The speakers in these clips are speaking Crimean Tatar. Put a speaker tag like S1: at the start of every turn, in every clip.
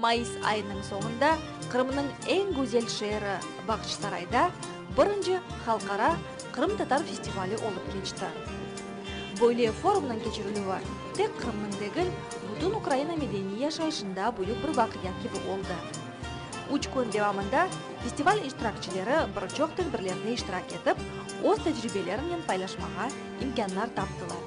S1: Mayıs ayınıñ soñunda Qırımnıñ eñ güzel şeeri Bağçasarayda birinci halqara qırımtatar festivali olıp keçti. Böyle forumnıñ keçirilüvi tek Qırımnıñ degil, bütün Ukraina medeniy yaşayışında büyük bir vaqia kibi oldı. Üç kün devamında festival iştirakçileri bir çoq tedbirlerde iştirak etip, öz tecribelerinen paylaşmağa imkânlar taptılar.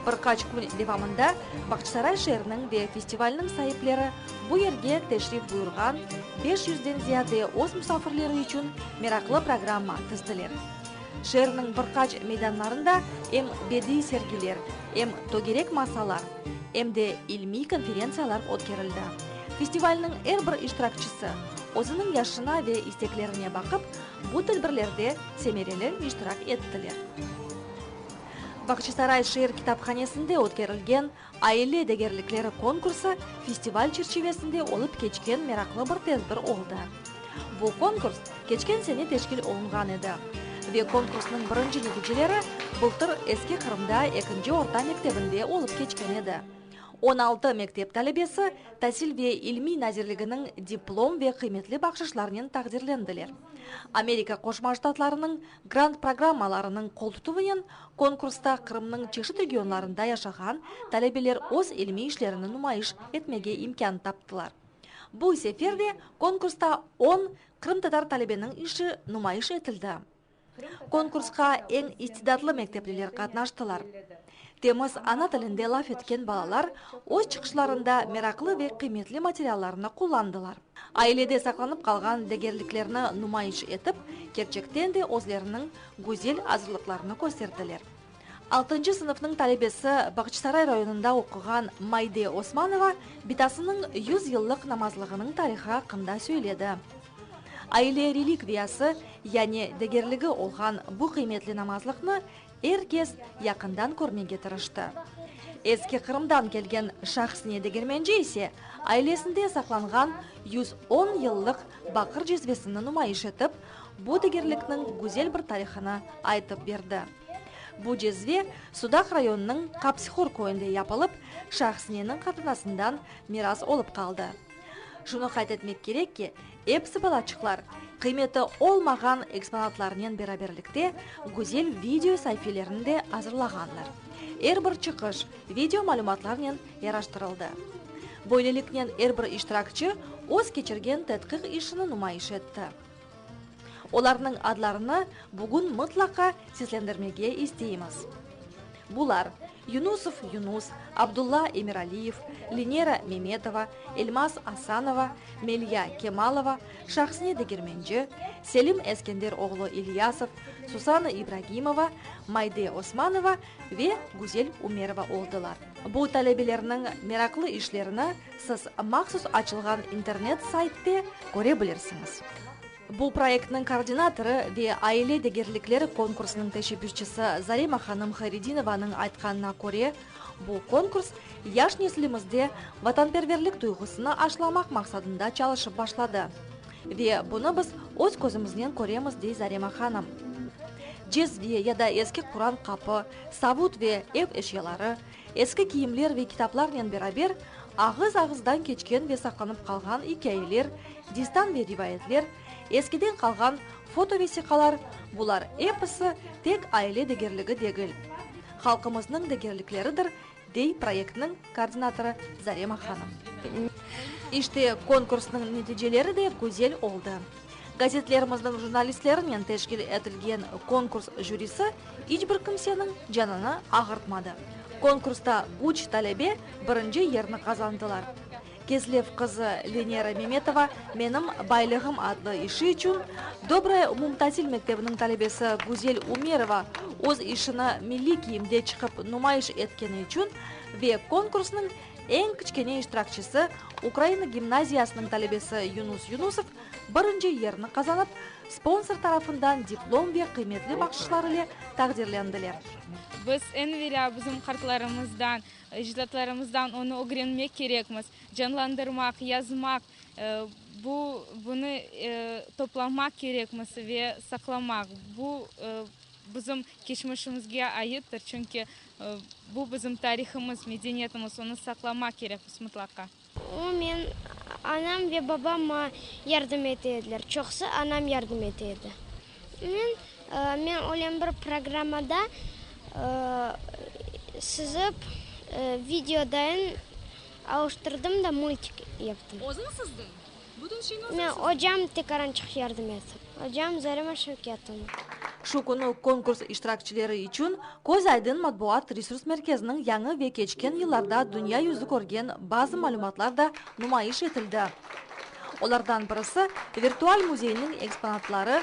S1: Bir qaç kün devamında Bağçasaray şeeriniñ ve festivalniñ saipleri bu yerge teşrif buyurğan beş yüzden ziyade öz musafirleri içün meraqlı programma tizdiler. Şeerniñ bir qaç meydanlarında em bediiy sergiler, em tögerek masalar, em de ilmiy konferentsiyalar ötkerildi. Festivalniñ er bir iştirakçisi, özüniñ yaşına ve isteklerine baqıp, Bu tedbirlerde semereli iştirak ettiler. Bağçasaray şeer kitaphanesinde ötkerilgen Aile degerlikleri konkursı festival çerçivesinde olıp keçken meraqlı bir tedbir oldı. Bu konkurs keçken sene teşkil olunğan edi ve konkursnıñ birinci neticeleri bıltır Eski Qırımda ekinci orta mektebinde olıp keçken edi. On altı mektep talebesi Tasil ve ilmiy nazirliginiñ diplom ve qıymetli bahşışlarınen taqdirlendiler. Amerika Qoşma Ştatlarınıñ grant programmalarınıñ qoltutuvınen konkursta Qırımnıñ çeşit regionlarında yaşağan talebeler öz ilmiy işlerini numayış etmege imkân taptılar. Bu sefer de konkursta on qırımtatar talebeniñ işi numayış etildi. Konkursqa eñ istidatlı mektepliler qatnaştılar. Temiz ana tilinde laf etken balalar öz çıqışlarında meraqlı ve qıymetli materiallarnı qullandılar. Ailede saqlanıp qalğan degerliklerni numayış etip, kerçekten de özleriniñ güzel azırlıqlarını kösterdiler. Altıncı sınıfnıñ talebesi, Bağçasaray rayonında oquğan Maide Osmanova bitasınıñ yüz yıllıq namazlığınıñ tarihı aqqında söyledi. Aile relikviyası, yani degerligi olğan bu qıymetli namazlıqnı er kes yaqından körmege tırıştı. Eski Qırımdan kelgen Şahsine Degermenci ise ailesinde saqlanğan yüz on yıllıq baqır cezvesini numayış etip, bu degerlikniñ güzel bir tarihını aytıp berdi. Bu cezve Sudaq rayonınıñ Qapsihor köyünde yapılıp, Şahisneniñ qatunasından miras olıp qaldı. Şunı qayd etmek kerek ki, episi balaçıqlar, qıymeti olmağan eksponatlarınen beraberlikte, güzel video saifelerini de azırlağanlar. Er bir çıqış video malümatlarnen yaraştırıldı. Böyleliknen er bir iştirakçi öz keçirgen tedqiq işini numayış etti. Olarnıñ adlarını bugün mıtlaqa seslendirmege isteymiz. Bular, Yunusov Yunus, Abdulla Emiraliyev, Linera Memetova, Elmas Asanova, Melya Kemalova, Şahsine Degermenci, Selim Eskender oğlu İlyasov, Susana İbragimova, Mayde Osmanova ve Güzel Umerova oldılar. Bu talebelerniñ meraqlı işlerini Siz mahsus açılğan internet saytte köre bilirsiñiz. Bu proyektniñ koordinatorı ve aile degerlikleri konkursınıñ teşebbüsçisi Zarema hanım Hayredinovanıñ aytqanına köre, bu konkurs yaş neslimizde vatanperverlik duyğusını aşlamaq maqsadında çalışıp başladı. Ve bunı biz öz közümiznen köremiz, dey Zarema hanım. Cezve ya da eski Quran qapı, savut ve ev eşyaları, Eski kiyimler ve kitaplarnen beraber, ağız-ağızdan keçken ve saqlanıp qalğan ikâyeler, destan ve rivayetler, eskiden qalğan fotovesiqalar, bular episi tek aile degerligi degil, halqımıznıñ degerlikleridir, dey proyektniñ koordinatorı Zarema hanım. İşte, konkursnıñ neticeleri de güzel oldı. Gazetlerimizniñ jurnalistlerinen teşkil etilgen konkurs jürisi iç bir kimseniñ canını ağırtmadı. Konkursta üç talebe birinci yerni qazandılar. Kezlev qızı Lenera Memetova Menim baylığım adlı işi içün, Dobraya umumtasil mektebiniñ talebesi Güzel Umerova öz işini milliy kiyimde çıqıp numayış etkeni içün ve konkursnıñ Eñ kiçkene iştirakçisi, Ukraina gimnaziyasınıñ talebesi Yunus Yunusov birinci yerni qazanıp, sponsor tarafından diplom ve qıymetli bahşışlar ile taqdirlendiler. Biz
S2: eñ evelâ bizim qartlarımızdan, ecdatlarımızdan onı ögrenmek kerekmiz, canlandırmaq, yazmaq, bu, bunı toplamaq kerekmiz ve saqlamaq. Bu, bizim keçmişimizge aittir, çünki, Bu bizim tarihımız, medeniyetimiz, onı saqlamaq kerek biz mıtlaqa. O men
S3: anam ve babama yardım ete ediler, çoqsı anam yardım ete edi. Men, men oylem bir programmada sızıp video dayın alıştırdım da multik yaptım. Özün sızdın?
S2: Men ocam Tikarançıq
S3: Yardımet. Ocam Zarema Şevketovna. Şu künü
S1: konkurs iştirakçileri içün Köz aydın matbuat resurs merkeziniñ yañı ve keçken yıllarda dünya yüzü körgen bazı malümatlar da numayış etildi. Olardan birisi, virtual müzeyniñ eksponatları,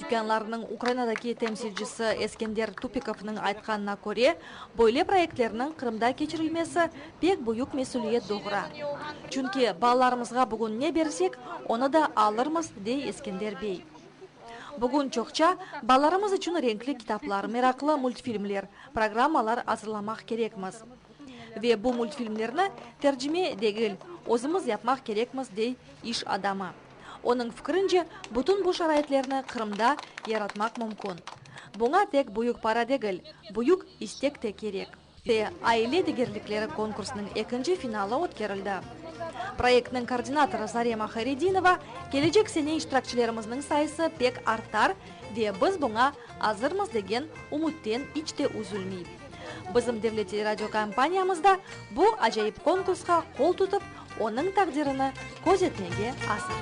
S1: Dükânlarnıñ Ukrainadaki temsilcisi Eskender Tupikovnıñ aytqanına köre, böyle proyektlerniñ Qırımda keçirilmesi pek büyük mesüliyet doğura. Çünki balalarımızğa bugün ne bersek, onı da alırmız, dey Eskender bey. Bugün çoqça balalarımız içün renkli kitaplar, meraqlı multfilmler, programmalar azırlamaq kerekmiz. Ve bu multfilmlerni tercime degil, özümiz yapmaq kerekmiz, dey iş adamı. Onıñ fikrince, bütün bu şaraitlerni Qırımda yaratmaq mümkün. Buña tek büyük para degil, büyük istek te kerek. Te aile degerlikleri konkursınıñ ekinci finalı ötkerildi. Proyektniñ koordinatorı Zarema Hayredinova, Kelecek sene iştirakçilerimizniñ sayısı pek artar ve biz buña azırmız degen ümütten iç te üzülmey. Bizim devlet teleradiokompaniyamız da bu acayip konkursqa qol tutıp, Onıñ taqdirini köz etmege asır.